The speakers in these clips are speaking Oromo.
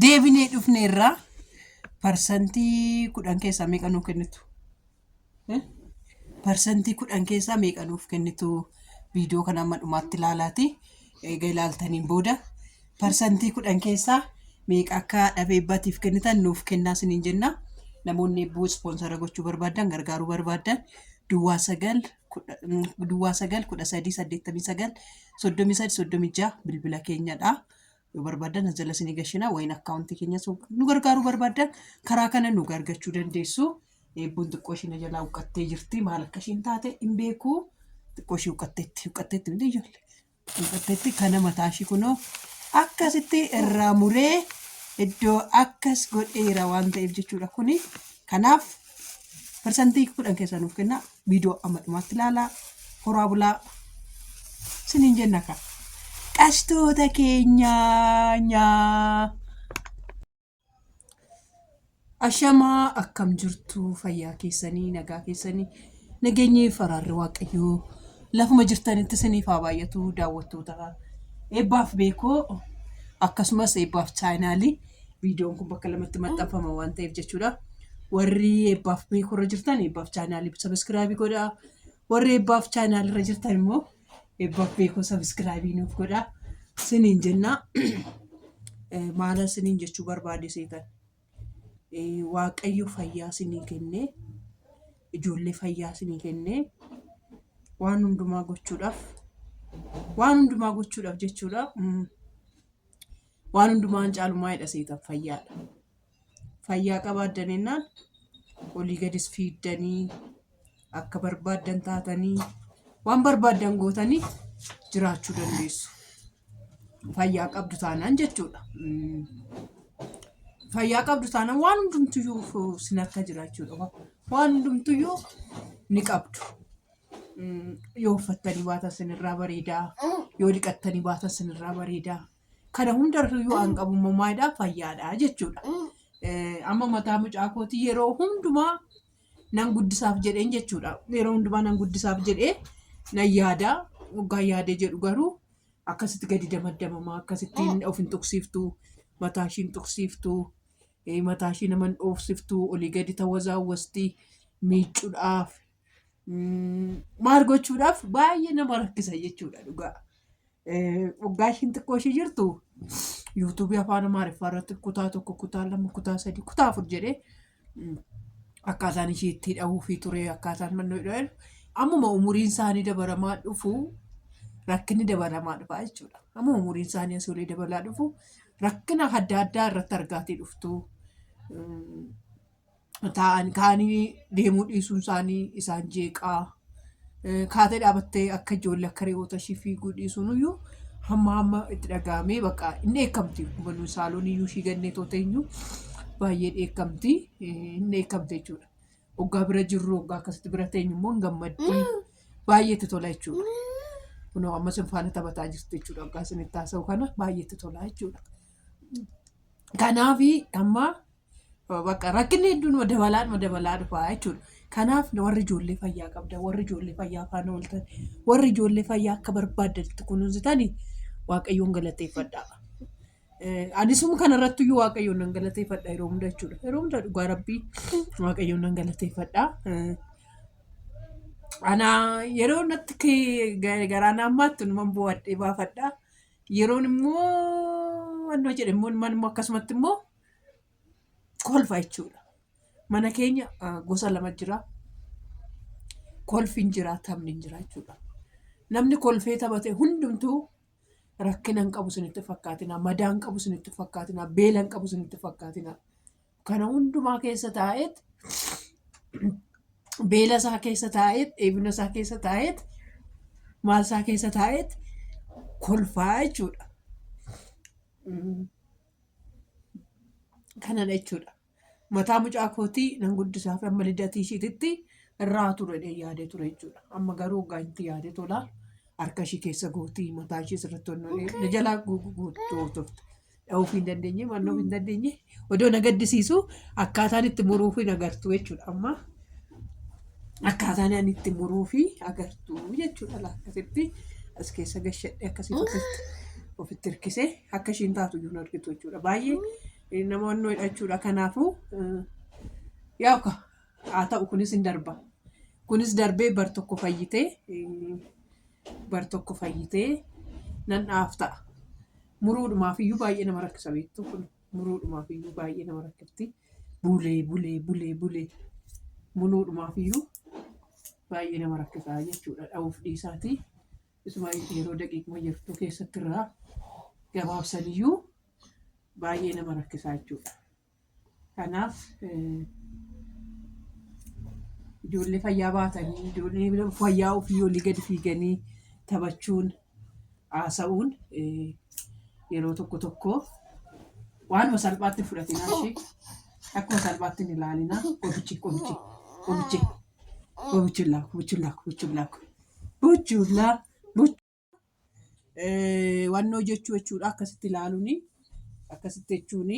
Deebinee dhufne irraa parsantii kudhan keessaa meeqa nuu kennitu? Eh? Parsantii kudhan keessaa meeqa nuuf kennitu? Viidiyoo kana amma dhumaatti ilaalaati. Eega ilaaltaniin booda parsantii kudhan keessaa meeqa akka dhabee abbaatiif kennitan nuuf kennaa isiniin jenna. Namoonni eebbuu ispoonsara gochuu barbaadan gargaaruu barbaadan duwwaa sagal kudha- mm, duwwaa sagal kudha sadii saddeettamii sagal soddomii sadii soddomii ja'a bilbila keenyadha. yoo barbaaddan as jala isinii gashinaa wayin akkaawuntii keenya so nu gargaaruu barbaaddan karaa kana nu gargachuu dandeessu eebbuun xiqqoo ishii na jalaa huqqattee jirti maal akka ishiin taate hin beeku xiqqoo ishii huqqatteetti huqqatteetti miti ijoollee huqqatteetti kana mataa ishii kunoo akkasitti irraa muree iddoo akkas godheera waan ta'eef jechuudha kuni kanaaf parsantii kudhan keessaa nuuf kennaa viidiyoo amma dhumaatti ilaalaa horaa bulaa siniin jenna kaa qashtoota keenyaa nyaa. Ashamaa akkam jirtu fayyaa keessanii nagaa keessanii nageenyi faraarri waaqayyoo lafuma jirtanitti isiniif haa baay'atu daawwattoota eebbaaf beekoo akkasumas eebbaaf chaayinaalii Viidiyoon kun bakka lamatti maxxanfama waan ta'eef jechuudha. Warri eebbaaf beekurra jirtan eebbaaf chaanaalii sabiskiraabii godhaa. Warri eebbaaf chaanaalirra jirtan immoo eebbaaf beekuu sabiskiraabii nuuf godhaa. Siniin jennaa maala siniin jechuu barbaade seetan. Waaqayyo fayyaa sinii kennee ijoollee fayyaa sinii kennee waan hundumaa gochuudhaaf waan hundumaa gochuudhaaf jechuudha. Waan hundumaan caalu maalidha seetan? Fayyaadha. Fayyaa qabaaddan jennaan olii gadis fiiddanii akka barbaaddan taatanii waan barbaaddan gootanii jiraachuu dandeessu. Fayyaa qabdu taanaan jechuudha. Mm. Fayyaa qabdu taanaan waan hundumtuyyuu sin harka jira jechuudha. Waan hundumtuyyuu ni qabdu. Mm, yoo uffattanii baatan sinirraa bareedaa yoo dhiqattanii baatan sinirraa bareedaa kana hundarra yoo an qabu immoo maalidha fayyaadha jechuudha Eh, amma mataa mucaa kootii yeroo hundumaa nan guddisaaf jedheen jechuudha yeroo hundumaa nan guddisaaf jedhee nan yaadaa waggaa yaadee jedhu garuu akkasitti gadi damaddamamaa akkasitti of hin tuqsiiftu mataa ishii hin tuqsiiftu eh, mataa ishii nama hin dhoofsiftu olii gadi tawazaawwasti miicuudhaaf mm, maal gochuudhaaf baay'ee nama rakkisa jechuudha dhugaa. Eh, Waggaa ishiin xiqqoo ishii jirtu yuutuubii afaan amaariffaa irratti kutaa tokko kutaa lama kutaa sadii kutaa afur jedhee mm, akkaataan ishii itti hidhamuufii ture akkaataan mannoo hidhamu ammuma umuriin isaanii dabalamaa dhufu rakkinni dabalamaa dhufa jechuudha. Amma umuriin isaanii asoolee dabalaa dhufu rakkina adda addaa irratti argaatii dhuftu. Mm, taa'an kaanii deemuu dhiisuun isaanii isaan jeeqaa kaatee dhaabattee akka ijoollee akka reewoota ishii fiiguu dhiisuun iyyuu hamma hamma itti dhaga'amee bakka hin dheekkamti hubannu saaloon iyyuu ishii gannee toota iyyuu baay'ee dheekkamti hin dheekkamte jechuudha. Oggaa bira jirru oggaa akkasitti bira teenyu immoo hin gammaddi baay'ee itti tola jechuudha. Kunoo amma isin faana taphataa jirti jechuudha oggaa isin itti haasa'u kana baay'ee itti tola jechuudha. Kanaaf amma Bakka rakkinni hedduun ma dabalaa ma dabalaa dhufaa jechuudha. Kanaaf warri ijoollee fayyaa qabda, warri ijoollee fayyaa faana ooltan, warri ijoollee fayyaa akka barbaaddanitti kunuunsitani Waaqayyoon galateeffadhaa. Eh, Anisuma kanarratti iyyuu Waaqayyoon nan galateeffadha yeroo hunda jechuudha. Yeroo hunda dhugaa rabbii Waaqayyoon nan galateeffadha. Eh, Ana yeroo natti kee- ga- garaan ammaatti numan bu'adhee baafadha. Yeroon immoo wannoo jedhe immoo numan immoo akkasumatti immoo kolfa jechuudha. Mana keenya gosa lama jira. Kolfi hin jira, taphni hin jira jechuudha. Namni kolfee taphate hundumtuu rakkina hin qabu isinitti fakkaatina, madaa hin qabu isinitti fakkaatina, beela hin qabu isinitti fakkaatina. Kana hundumaa keessa taa'eet beela isaa keessa taa'eet dheebina isaa keessa taa'eet maal isaa keessa taa'eet kolfaa jechuudha. kanadha jechuudha. Mataa mucaa kootii nan guddisaa fi amma lidatii ishiititti irraa ture yaadee ture jechuudha. Amma garuu waggaa itti yaadee tola harka ishii keessa gootii mataa ishii sirriitti honnoo jalaa guutuu turte. Dha'uuf hin dandeenye, mannoof hin dandeenye. Odoo na gaddisiisu akkaataan itti muruuf hin agartu jechuudha amma. Akkaataan ani itti muruu fi agartuu jechuudha laa akkasitti as keessa gashadhe akkasitti ofitti ofitti hirkisee akka ishiin taatu iyyuu hin argitu jechuudha. Baay'ee eh, nama onnoo hidhachuudha. Kanaafuu eh, yaa ka haa ta'u kunis hin darba. Kunis darbee bar tokko fayyitee eh, bar tokko fayyitee nan dhaaf ta'a. Muruudhumaaf iyyuu baay'ee nama rakkisa beektuu kun. Muluudhumaaf iyyuu baay'ee nama rakkifti. Bulee bulee bulee bulee muluudhumaaf iyyuu baay'ee nama rakkisaa jechuudha. Dha'uuf dhiisaatii isuma yeroo daqiiquma jirtu keessatti irraa gabaabsan iyyuu baay'ee nama rakkisaa jechuudha. Kanaaf eh, ijoollee fayyaa baatanii ijoollee fayyaa ofii olii gadi fiiganii taphachuun haasa'uun yeroo tokko tokko waanuma salphaatti hin fudhatinaa ishee akkuma salphaatti hin ilaalinaa qobichi qobichi qobichi qobichullaa qobichullaa qobichullaa qobichullaa wannoo jechuu jechuudha akkasitti ilaaluuni akkasitti jechuuni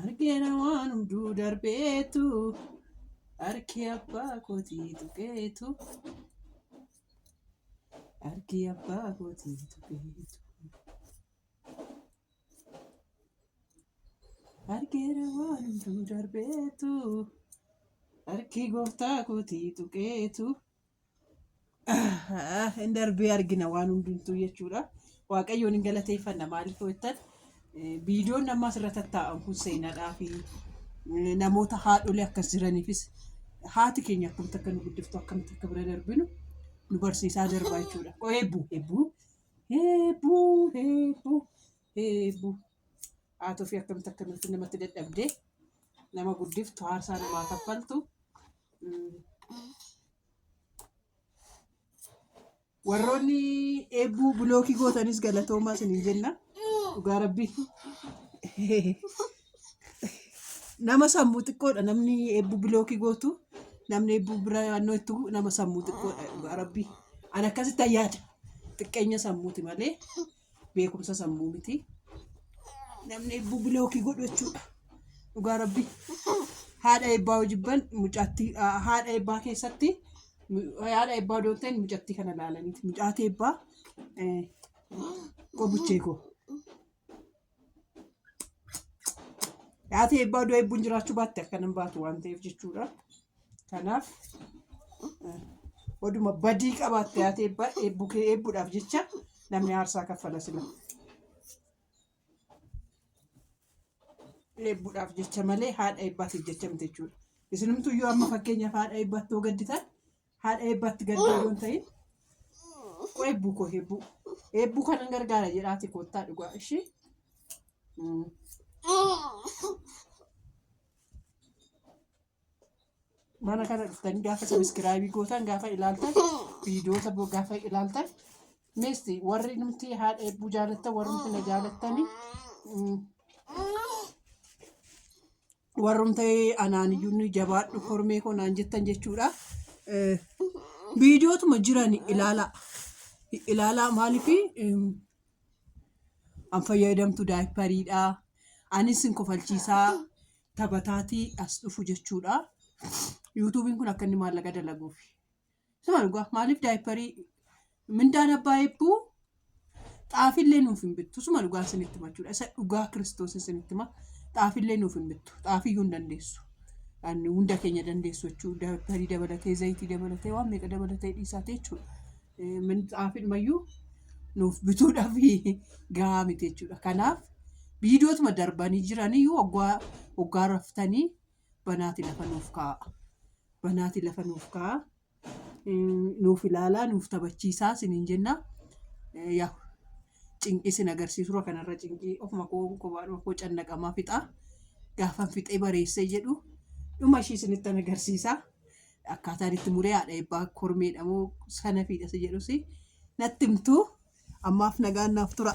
Argeera waan hunduu darbeetu harki abbaa kootii tuqeetu. Harki abbaa kootii tuqeetu. Argeera waan hunduu darbeetu harki gooftaa kootii tuqeetu. hin darbee argina waan hundumtuu jechuudha. Waaqayyoon hin galateeffanna maaliif jettan viidiyoon amma asirra tattaa'an kun seenaadhaa fi namoota haadholee akkas jiraniifis haati keenya akkamitti akka nu guddiftu akkamitti akka bira darbinu nu barsiisaa darbaa jechuudha. Eebbuu eebbuu eebbuu eebbuu. Heebbu haatoo fi akkamitti akkamitti namatti dadhabdee nama guddiftu haarsaa namaa kaffaltu mm, warroonni eebbuu bilookii gootanis galatoomaa isiniin jenna dhugaa rabbii nama sammuu xiqqoodha namni eebbuu bilookii gootu namni eebbuu bira naannoo itti bu'u nama sammuu xiqqoodha dhugaa rabbii an akkasitti yaada xiqqeenya sammuuti malee beekumsa sammuu miti namni ebbuu bilookii godhu jechuudha dhugaa rabbi haadha ebbaa hojibban mucaatti haadha ebbaa keessatti haadha ebbaa doonteen mucatti kana laalaniiti mucaati ebbaa qobuchee koo Yaatee eebbaa du'a eebbuun jiraachuu baatte akka nan baatu waan ta'eef jechuudha. Kanaaf oduma badii qabaatte yaatee eebbaa eebbuu kee eebbuudhaaf jecha namni aarsaa kaffala sila. Eebbuudhaaf jecha malee haadha eebbaatiif jecha miti jechuudha. Isinumtuu yoo amma fakkeenyaaf haadha eebbaatti yoo gadditan haadha eebbaatti gaddaa yoo hin ta'in koo eebbuu koo eebbuu eebbuu kanan gargaara jedhaati koottaa dhugaa ishee. Mm. mana kana dhuftanii gaafa sabiskiraabii gootan gaafa ilaaltan viidiyoota bo- gaafa ilaaltan misti warri nuti haadha eebbuu jaalattan warri nuti na jaalattanii mm, warrumta anaaniyyuun jabaadhu kormee koo naan jettan jechuudha. Eh, Viidiyootuma jiran ilaalaa. Ilaalaa maaliif an fayyadamtu daayipariidha. Anis sin kofalchiisaa taphataatii as dhufu jechuudha. Yuutuubiin kun akka inni maallaqa dalaguuf. Suma dhugaa maaliif daayipparii mindaan abbaa eebbuu xaafillee nuuf hin bittu suma dhugaa isinitti machuudha isa dhugaa kiristoos isinitti ma xaafillee nuuf hin bittu xaafiyyuu hin dandeessu Ani hunda keenya dandeessu jechuu daayipparii dabalatee zayitii dabalatee waan meeqa dabalatee dhiisaate jechuudha Eh, min- xaafidhumayyuu nuuf bituudhaaf gahaa miti jechuudha kanaaf viidiyootuma darbanii jiranii waggaa waggaa raftanii banaati lafa nuuf kaa'a. Banaati lafa nuuf kaa'a. Nuuf ilaalaa, nuuf taphachiisaa isiniin jenna. Yaa cinqii isin agarsiisura kanarra cinqii ofuma koo kophaadhuma koo cannaqamaa fixaa. Gaafan fixee bareessee jedhu dhuma ishii isinittan agarsiisa. Akkaataan itti muree haadha eebbaa kormeedha moo sanafiidha si jedhus natti himtu. Ammaaf nagaan naaf tura.